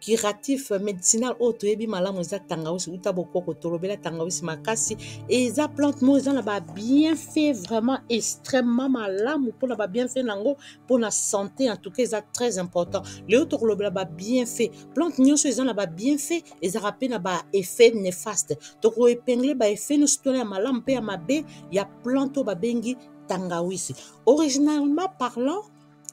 curatif medicinal oyo toyebi malamu eza tangawisi uta bokoko tolobela tangawisi makasi eza plante moko eza na babienfait vraiment extrêmement malamu mpona babienfait na yango mpona santé en tout cas eza très important lelo tokolobela babienfait plante nyonso eza na babienfait ezalaka mpe na baeffet nefaste tokoepingle baeffet nyonso tona ya malamu mpe ya mabe ya plante oyo babengi tangawisi originalement parlant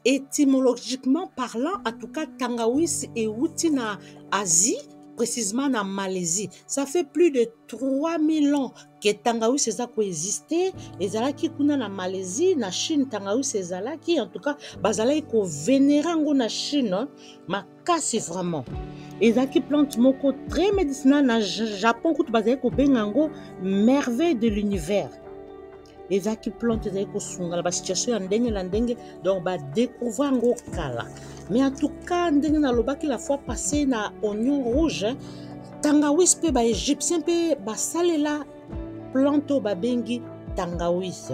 Etymologiquement parlant, en tout cas, tangawisi euti na Asie, précisément na Malaisie. Ça fait plus de 3000 ans que tangawisi eza koexiste ezalaki kuna na malaisie na chine tangawisi ezalaki en tout cas bazalaki kovenera yango na chine hein. Ma- kasi vraiment ezalaki plante moko très médicinal na japon kutu bazali kobenga yango merveille de l'univers ezalaki plante ezali kosunga na basituation ya ndenge na ndenge donc badécouvre yango kala mais en tout cas ndenge nalobaki la fois passé na oignon rouge tangawis mpe baégyptien mpe basalela plante oyo babengi tangawis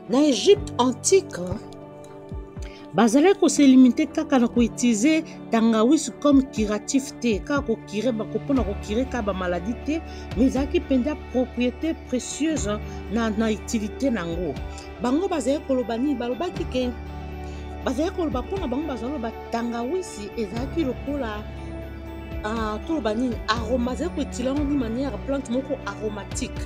Na Egypte antique, bazalaki koselimite kaka na koutilize tangawisi comme curatif te kaka kokire bako mpo na kokire kaka bamaladi te mais ezalaki mpenza propriété précieuse na, na utilité na yango bango bazalaki koloba nini balobaki ke bazalaki koloba mpo na bango bazali koloba tangawisi ezalaki lokola uh, toloba nini aroma azalaki koutile yango ni manière plante moko aromatique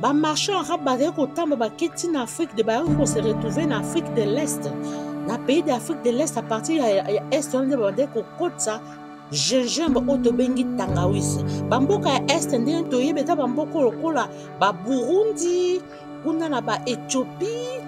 Ba marchands arabes bazali kotamba baketi na Afrique de bayaki ko se retrouver na Afrique de l'Est. Na pays d'Afrique de l'Est à partir ya, ya, ya Est wana nde babandaki kokotisa gingembre oyo tobengi tangawisi. Bamboka ya Est ndenge toyebi eza bamboka lokola ba Burundi, kuna na ba Ethiopie,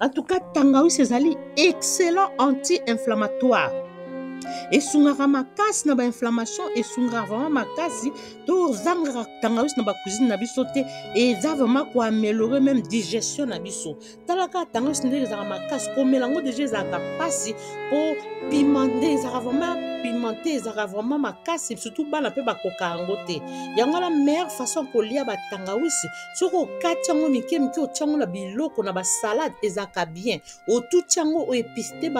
En tout cas, tangawisi ezali excellent anti-inflammatoire. esungaka makasi na bainflammation esungaka vraiment makasi tozangaka tangawisi na bacuisine na biso te eza vraiment koameliore meme digestion na biso talaka tangawisi ndenge ezalaka makasi komela yango deja ezalaka mpasi mpo pimante ezalaka vraiment pimente ezalaka vraiment makasi surtout bana mpe bakoka yango te yango wana meilleure façon ya kolia batangawisi soki okati yango mike mike otya yango na biloko na basalade ezalaka bien otuti yango oepiste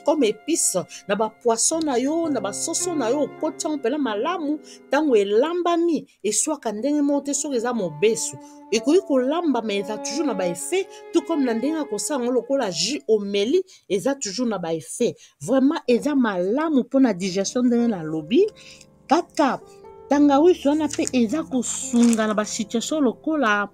comme epice na bapoisson na yo na basoso na yo okoti yango mpena malamu ntango elambami eswaka ndenge moko te soki eza mobesu ekoki kolamba ma eza toujours na baeffet tout comme na ndenge ya kosala yango lokola jus omeli eza toujours na baeffet vraiment eza malamu mpona digestion ndenge nalobi kaka tangawisi wana mpe eza kosunga na basituation lokola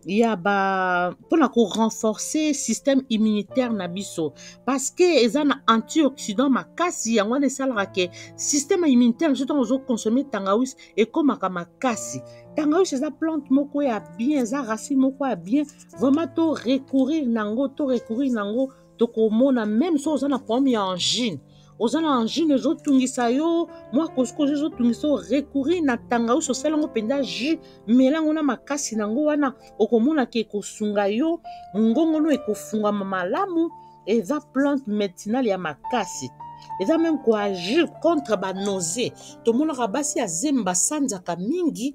ya ba mpona korenforcer système immunitaire na biso parce que eza na antioxydant makasi yango wana esalaka ke système immunitaire biso ntango ozoconsomme tangawisi ekomaka makasi tangawisi eza plante moko ya bien eza racine moko ya bien vraiment to recourir na yango to recourir na yango tokomona meme so oza na problème ya angine oza na angine ezotungisa yo mwa kosikozo ezotungisa yo recourir na tangausi osala yango mpenza jus mela yango na makasi na yango wana okomona ke ekosunga yo mongongo no ekofungama malamu eza plante medicinale ya makasi eza meme koagir contre banose tomonaka basi ya zemi basanzaka mingi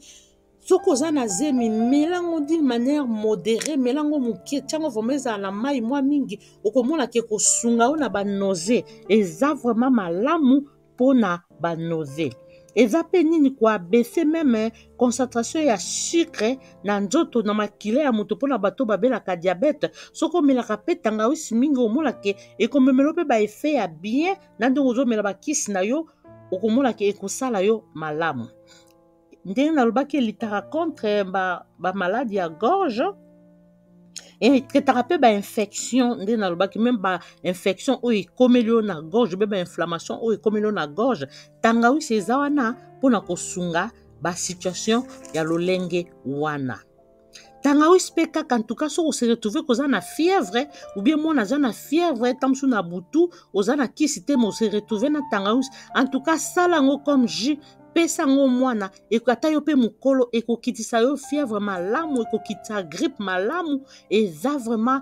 soki oza na zemi mela yango d'une manière modéré mela yango moke ntiango vraimen ezala na mai mwa mingi okomona ke kosunga yo na banose eza vraimen malamu mpo na banose eza mpe nini koabese meme concentration ya sucre na nzoto na makila ya moto mpo na bato babelaka diabete soki omelaka mpe tangawisi mingi omona ke ekomemelo mpe baefe ya bien na ndenge ozomela bakisi na yo okomona ke ekosala yo malamu ndenge nalobaki elitaka contre ba, ba maladi ya gorge etretaka mpe bainfection nde nalobaki meme bainfection oyo ekomeli yo na gorge mpe bainflammation oyo ekomeli yo na gorge tangawisi eza wana mpo na kosunga basituation ya lolenge wana tangawisi mpe kaka ntuka soki oseretrouve koza na fièvre oubien mwana aza na fièvre ntango mosusu na butu oza na kisi te ma oseretrouve na tangawisi antuka sala yango comme jus pesa yango mwana ata yo mpe mokolo ekokitisa yo fièvre malamu ekokitisa grippe malamu eza vraiment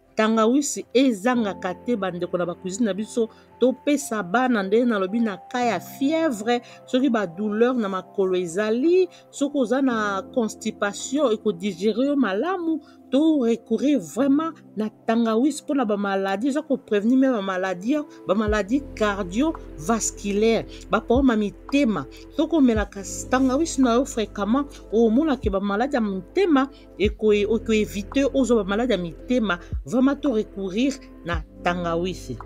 tangawisi ezangaka te bandeko na bacuisine na biso topesa bana ndenge nalobi na ka ya fièvre soki badouleur na makolo ezali soki oza na constipation ekodigere yo malamu to recourir vraiment na tangawisi mpona bamaladi eza koprevenir me bamaladi bamaladi cardiovasculaire baproblème ya mitema soki omelaka tangawisi na yo fréquemment omonaka bamaladi ya mitema ekoevite ozwa bamaladi ya mitema vraiment to recourir na tangawisi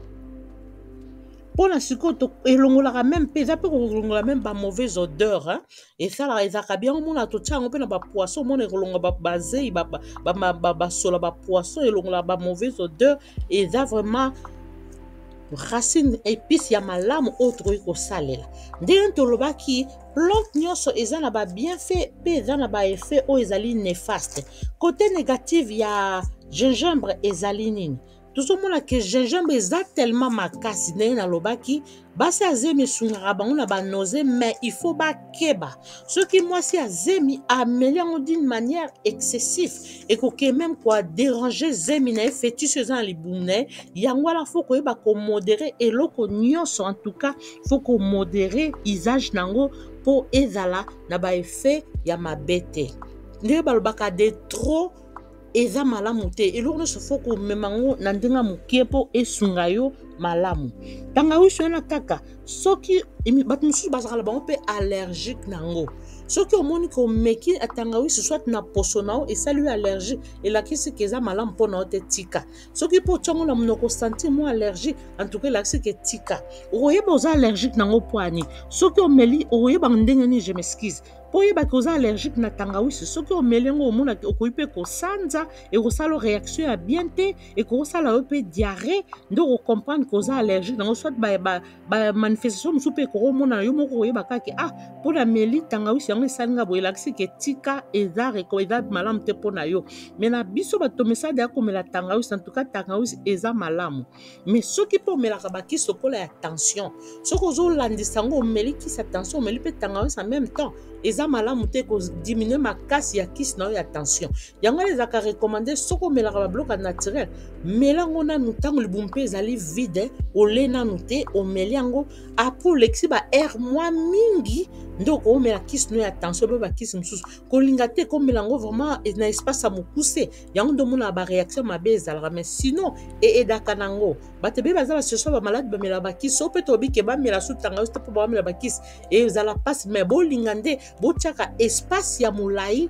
mpo na sikoyo elongolaka meme mpe eza mpe kolongola meme bamauvaise odeur hein? esalaka ezalaka bien omona totya yango mpe na bapoisson omona ekolonga bazei basola bapoisson elongolaka bamauvaise odeur eza vraiment racine épice ya malamu oyo tokoki kosalela ndenge tolobaki plante nyonso eza na babienfait mpe eza na baeffet oyo ezali nefaste kote negative ya gingembre ezali nini tozomona ke gingembre eza tellement makasi ndenge nalobaki basi ya zemi esungaka bango na banose mais il faut bakeba soki mwasi ya zemi ameli yango d'une manière excessive ekoki meme kua déranger zemi na ye fétiche eza na libumu na ye yango wana fo koyeba komodere eloko nyonso en tout cas faut ko modere usage na yango mpo ezala na ba effet ya mabe te ndenge balobaka de trop eza malamu te eloko nyonso faut komema yango na ndenge ya moke mpo esunga yo malamu tangawisi wana kaka soki bato mosusu bazalaka na bango mpe allergique na yango soki omoni komeki atangawisi soit na poso na yo esali yo allergie elakisi ke eza malamu mpo na yo te tika soki mpo otya yango na monoko osanti mwa allergie antuka elakisi ke tika okoyeba oza allergique nango mpo ani soki omeli okoyeba ndenge nini je m'excuse mpo oyebaki oza allergique na tangawisi soki omeli yango omonaki okoki mpe kosanza ekosala yo réaction ya bien te ekosala yo mpe diarrhée nde okocomprendre ke oza allergique nango soit ba, ba, bamanifestation mosusu mpe ekokomona yo moko koyeba kake ah mpo na meli tangawisi yango esali nga boye elakisi ke tika eza reko eza malamu te mpo na yo me na biso bato mesade ya komela tangawisi antuka tangawisi eza malamu me soki mpe omelaka bakisi lokola ya tension soki ozolandisa yango omeli kisi ya tension omeli mpe tangawisi en même temps eza malamu te kodiminue makasi ya kisi na yo ya tension yango wana ezalaka recommande soki omelaka babiloko ya naturel mela yango nanu ntango libumu mpe ezali vide ole nanu te omeli yango apres olekisi baheure mwa mingi nde okoomela kisi no ya tension mpe bakisi mosusu kolinga te komela yango vraiment na espace ya mokuse yango nde omonaka bareaction mabe ezalaka mai sinon eedaka na yango bato ebele baza basoso bamaladi bamela bakisi so mpe tobike bamela sutanga yo te mpo bamela bakisi ezala mpasi mai bolinga nde botyaka espace ya molai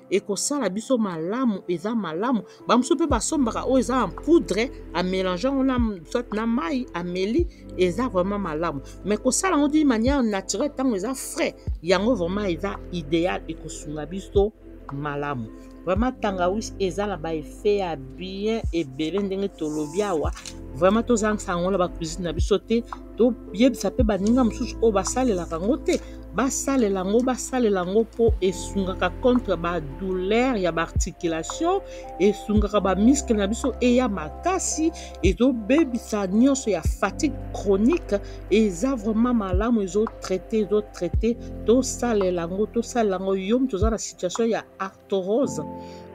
ekosala biso malamu eza malamu bamosusu mpe basombaka oyo eza en poudre amélange yango na soit na mai ameli eza vraiment malamu mais kosala yango d'une manière naturelle ntango eza frais yango vraiment eza idéal ekosunga biso malamu vraiment tangawis eza na baeffet ya bien ebele ndenge tolobi awa vraiment tozangisa yango na bacuisine na biso te toyebisa mpe baninga mosusu oyo basalelaka yango te basalela yango basalela yango mpo esungaka contre badouleur ya baarticulation esungaka bamiskle na biso eya makasi ezobebisa nyonso ya fatigue chronique eza vraiment malamu ezotraite ezotraite tosalela yango tosalela yango yo moto oza na situation ya arthrose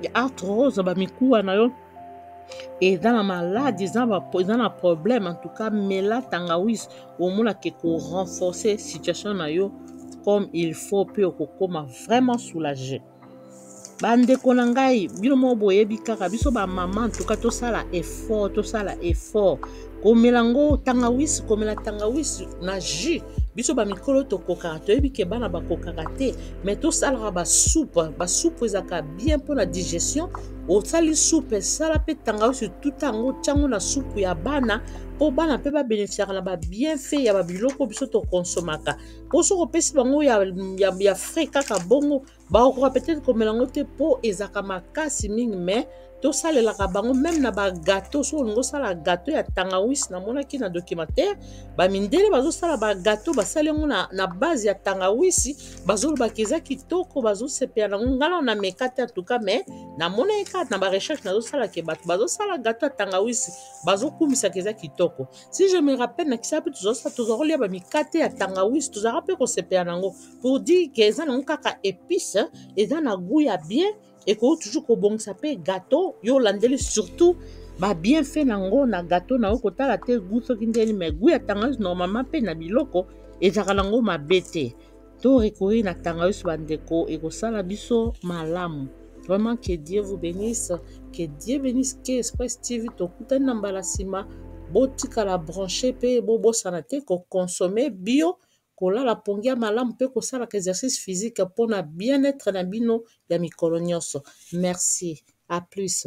ya arthrose bamikuwa na yo eza na maladi eza na ba- eza na problème en tout cas mela tangawis omonaka ekorenforce situation na yo comme il faut mpe okokoma vraiment soulage bandeko na ngai bino moko boyebi kaka biso bamama en tout cas tosala effort tosala effort komela ngo tangawisi komela tangawisi na jus biso bamikolo tokokaka toyebi ke bana bakokaka te me tosalaka basupe basupe ezalaka bien mpo na digestion osali supe esala mpe tangawisi tuta yango tyango na supu ya bana mpo bana mpe babeneficiaka na babienfait ya babiloko biso tokonsomaka mpo soki opesi bango ya, ya, ya frais kaka bongo bakokoka peut-être komela yango te mpo ezalaka makasi mingi mais tosalelaka bango meme na bagato soki olingi osala gato ya tangawisi namonaki na documentaire bamindele bazosala bagato basali yango na, na base ya tangawisi bazolobaka eza kitoko bazosepela nango ngala na meka te atuka mais namonaki kaka na barecherche nazosalaka bato bazosala gato ya tangawisi bazokumisaka eza kitoko si je me rappelle na kisapi tozalaka tolia bamikate ya tangawisi tozalaka mpe kosepela nango pour dire que eza nango kaka épice eza na goût ya bien ekoki toujours kobongisa mpe gâteau yo olandeli surtout ba bienfait na yango na gâteau na yo kotala te goût soki ndeni mais goût ya tangawisi normalement mpe na biloko ezalaka nango mabe te to recourir na tangawisi bandeko ekosala biso malamu vraiment que dieu vous bénisse que dieu bénisse ke express tv tokutani na mbala nsima botikala branche mpe bobosana te kokonsome bio kolala pongi ya malamu mpe kosalaka exercice physique mpo na bien-etre na bino ya mikolo nyonso. Merci. A plus.